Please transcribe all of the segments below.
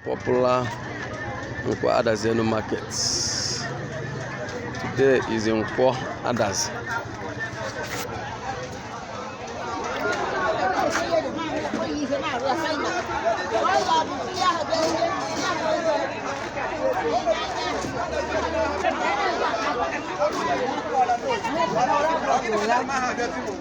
popular Nkwo Adazienu market. Today is Nkwo Adazi. Thank you.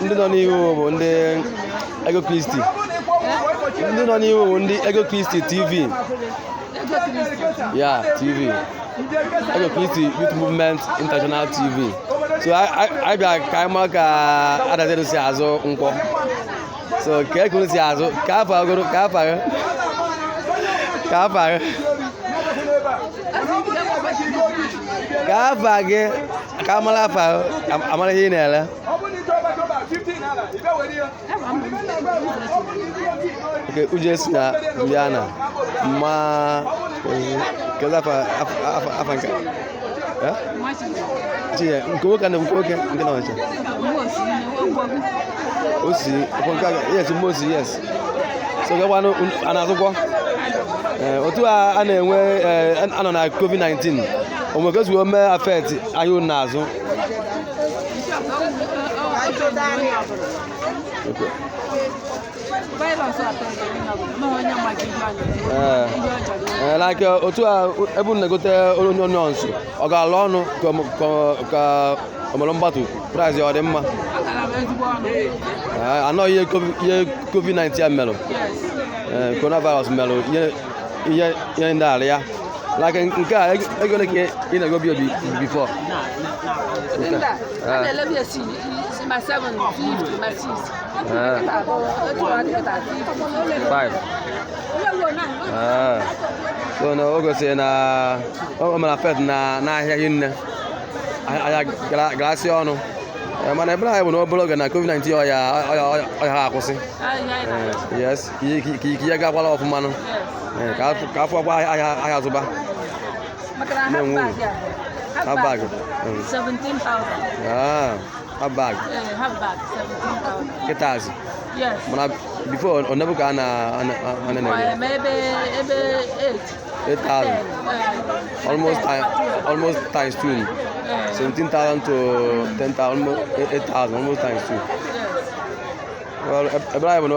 ndị nọ n'ihu bụ ndị ego kristi ndị nọ n'ihu bụ ndị ego kristi tv ya tv ego kristi youth movement international tv so anyị bịa ka anyị mara ka adadịrị si azụ nkwọ so ka ekuru si azụ ka afọ agụrụ ka afọ agụ ka afọ agụ ka afọ agụ ka a mara afa a mara ihe ị na-ere nke uje si na ndị a na ma kedu afa afa nke chinye nke nwoke na nke nwoke nke na ọcha osi ọkwa nke aga yes mmosi yes so kekwanụ a na-azụkwọ Ee, otu a a na-enwe ee, a nọ na covid-19 o nwe ka o si mee affect ahịa unu na-azụ Ee. Ee, like otu a ebe unu na-egote onions ọ galụ ọnụ ka- ka- ka ọmụrụ mgbatu price ọ dị mma anọ ihe covid-19 ya merụ coronavirus merụ ihe ndị ala ya like nke a ego ole ka ị na-ego bi obi before five so na o gosiri na o mere affect na n'ahịa hinne ahịa galasị ọnụ eh, mana ekpere anyị bụ na obere oge na covid-19 ọya a akwụsị eh, ka ike ya gakwala ọfụma eh, ka a fụkwa ahịa zụba na-enwe uru half bag half bag kịta azụ mana before onebu ka a na-eme 8,000. Almost, time, almost times two. 17,000 to 10,000, almost 8,000, almost times two. Well, ekpere anyị bụ na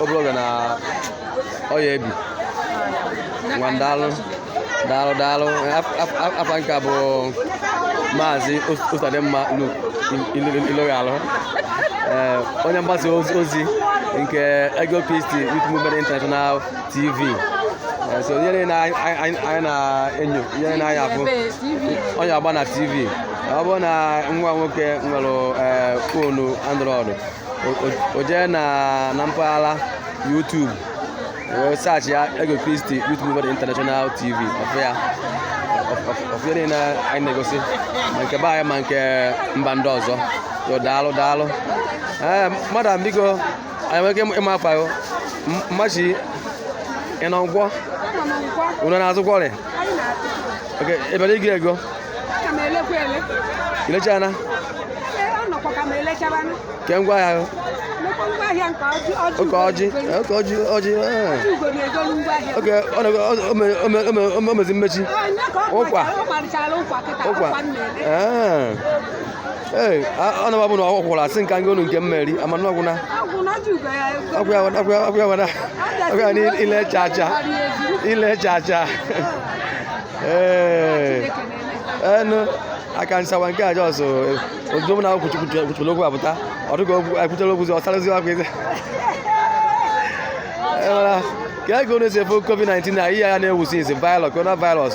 obere oge na ọya ebi. Ngwa daalụ, daalụ, daalụ. Afa m ka bụ Maazị Ụzọdịmma Luke Iloghalụ. Onye mgbasa ozi nke Ego Peace Youth Movement International tv Eh, so ihe niile anyị- anyị anyị- anyị na-enyo ihe niile anyị afụ onye agba na tv ọ bụrụ na nwa nwoke nwere eh, foonu android o- o- o jee na na mpaghara youtube wee saachị ya ego kristi youth movement international tv ọ fụ ya ọ fụ ihe niile anyị na-egosi ma nke be anyị ma nke mba ndị ọzọ so daalụ daalụ ee madam biko anyị nwere ike ịma afa gị mmachi ị nọ nkwọ unu na-azụkwa ahịa oke ebere iji ego ilechana ke ngwa ahịa oke ọjị oke ọjị ọjị oke o mezi mmechi ụkwa ụkwa ee anababụ na ọkwụkwara asị nka ngị olu nke mmeri amana ọgwụna ọgwụya ile chacha ile chacha ee enu aka nsawa nke aja ọsọ ozugbo na kwuchipụrụ okwu apụta ọ dịghị okwu e kwuchara okwu ọsarazi akwa eze ka ego na-esi efe covid-19 na ihe ya na-ewusi nsi virus coronavirus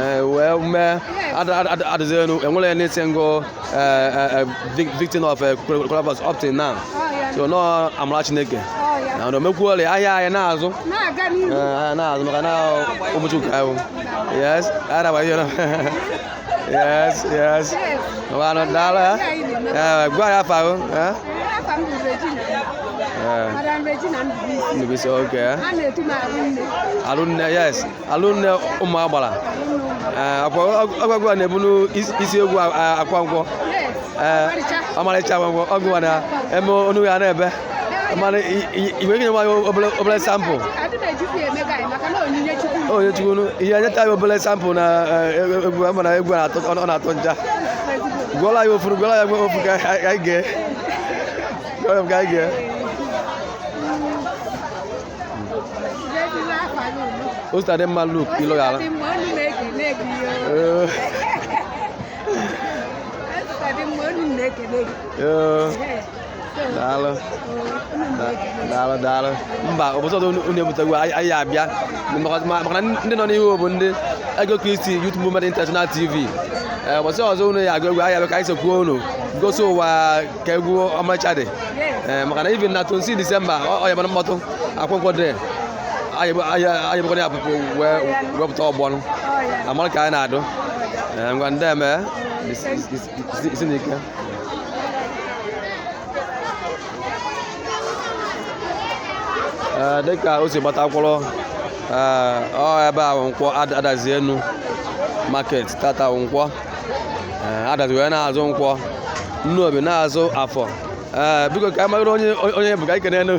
eh, wee mee adịzenu e nwere any single eh, eh, victim of coronavirus up till now oh, so nọ amara chineke oh, na na o mekwuole ahịa anyị na-azụ ahịa na-azụ maka na ụbọchị nke ahụ yes araba ihe na yes yes ọbanụ daalụ gwa anyị afa ahụ Madam Regina Ndubisi. Ndubisi, okay. Arunne, yes. alụnne ụmụ agbara eh, agwagwu a na-ebu n'isi egwu akwa nkwọ eh, ọmarịcha akwa nkwọ ọgụ na eme onu ya na-ebe mana igwe gị nwa ya obere sample onye chukwu ihe nyeta anyị obere sample na eh, egwu ama na egwu ọ na-atọ ncha gụọla anyị ofu gụọla anyị ofu ka anyị gee o si adị mma luk ilo ya ala daalụ daalụ daalụ mba ụbọchị ọzọ unu ebuta egwu anyị abịa maka na ndị nọ n'ihu bụ ndị ego kristi youth movement international tv ụbọchị ọzọ unu ya-agụ egwu anyị abịa ka anyị sokwuo unu gosi ụwa ka egwu ọmacha dị ee maka na even na 26 disemba ọ ya mara mkpọtụ akwụkwọ dị anyị bụkwa ya pụpụ wee wepụta ọgbọnụ amara ka anyị na-adụ ee ngwa ndị eme isi na ike ee dịka o si gbata akwụrụ ee ọ ebe a bụ nkwọ adazi enu market tata nkwọ ee adazi wee na-azụ nkwọ nnobi na-azụ afọ ee biko ka anyị mara onye onye bụ ka anyị kenee nụ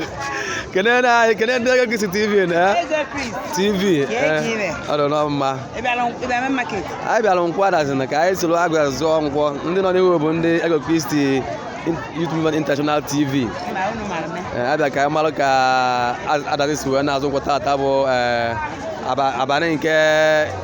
kenee na anyị kenee ndị ego kristi tv na ee Eze Chris, tv ee ọ dị nọ mma ị bịara ị bịara main market? anyị bịara nkwọ adazi na ka anyị soro agụ zụọ nkwọ ndị nọ n'ihu bụ ndị ego kristi youth movement international tv Ị ma unu mara mee. Ee, abịa ka anyị mara ka adazi si wee na-azụ nkwọ tata bụ ee, aba- abalị nke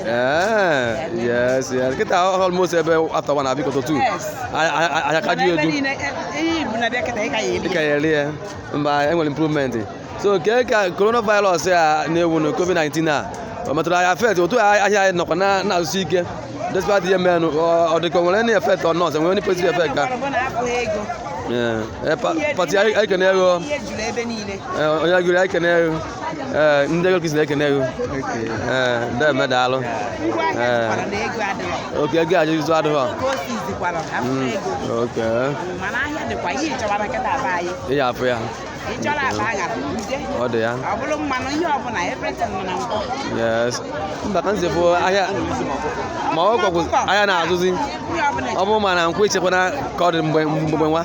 Eh, yes, yes. Kita almost ebe after one abi koto two. Yes. Ahịa kaju edu. Eyi bu na bia keta ika yeli. Ika yeli eh. Mba enwe improvement. So ke ka coronavirus ya na ewu no COVID-19 a. O metụrụ ahịa affect otu ahịa anyị nọkwa na na-azụsi ike. Despite ihe mere ọ dịka nwere any effect or not, nwere any positive effect ka. Yeah. Eh, pati anyị kene ego. Onye gụrụ anyị kene ego. ee ndị ego kristi na-ekene gị ee ndị eme daalụ ee oke ego ajụ izu adịghị oke ị ya afụ ya ọ dị ya yes mba ka nzefụ ahịa ma ọ kwakwụ ahịa na-azụzi ọ bụrụ ma na nkwọ ichekwana ka ọ dị mgbe mgbe nwa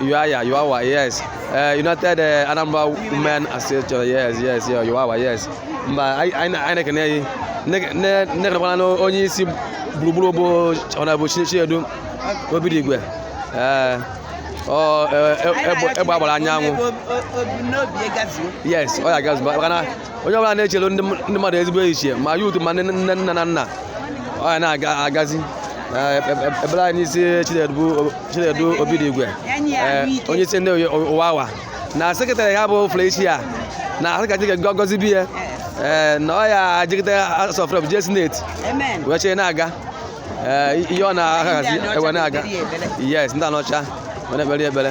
UAYA, UAWA, yes. Uh, United uh, Anambra Women Association, yes, yes, yeah, UAWA, yes. Mba, anyị anyị na- anyị na-ekene gị. Nne- nne- nne kenekwana na onye isi gburugburu bụ Honorable Chinedu Obidigwe. Eh, ọ, eh, eh, egbe egbe agbara anyanwụ. Obi n'obi gazuo. Yes, ọ ya gazu maka na onye ọbụla na-echere ndị ndị mmadụ ezigbo echiche ma youth ma ndị nne nna na nna ọ ya na-agazi Eh, ekpe- ekpe- ekpere anyị n'isi Chinedu Chinedu Obidigwe eh, onye isi ndị U- UAWA na sekretarị ya bụ Felicia na asị ka Chineke gọzibe ya eh, na ọ ya ajigide House of Rep jee Senate Amen. wee chee na-aga Eh, ihe ọ na-ahazi wee na-aga yes ndị Anaọcha wee na-ekpere ya ekpere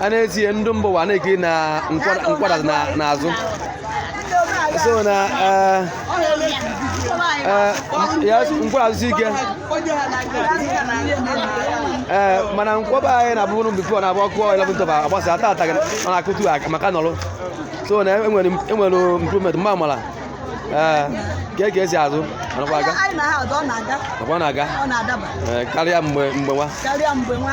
a na-etinye ndị mba ụwa na-ekiri na nkwọ ada nkwọ ada na na-azụ so na eh, eh, ya nkwọ ada azụsi ike ee mana nkwọ be anyị na-abụrụ before na abụ ọkụ 11 tọba agbasa ata ata ọ na-akụtu aka maka nọrụ so na enwere enwere improvement mgbe amala ee ka e ka esi azụ anakwa aga anyị na ha ọdọ ọ na-aga nakwa na-aga ọ na-adaba ee, karịa mgbe mgbe nwa karịa mgbe nwa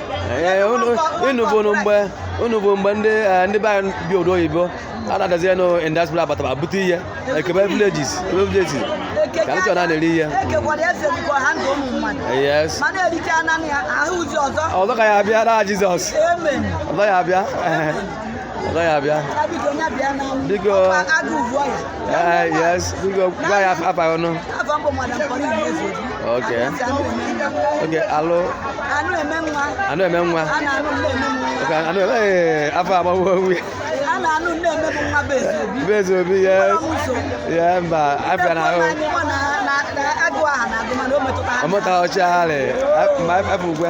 Ee, unu- unu bụ nụ mgbe unu bụ mgbe ndị eh, ndị be anyị bi obodo oyibo a na-adazi ya nụ industry abataba bute ihe ekebe villages ekebe villages ka ndị chọrọ na na-eri ihe ekekwara eze dịkwa ha ndụ ụmụ mmadụ yes ma na-erite ananị ya ahụ ụzi ọzọ ọzọ ka ya abịa na Jizọs amen ọzọ ya abịa ọzọ ya bịa biko yes biko gwa ya afa ọnụ ok ok alụ anụ eme nwa anụ eme nwa anụ eme afọ agbawo onwe ya bezi obi ya ya mba afịa na ahụ ọmụta ọchị ahụ ma afọ ugwe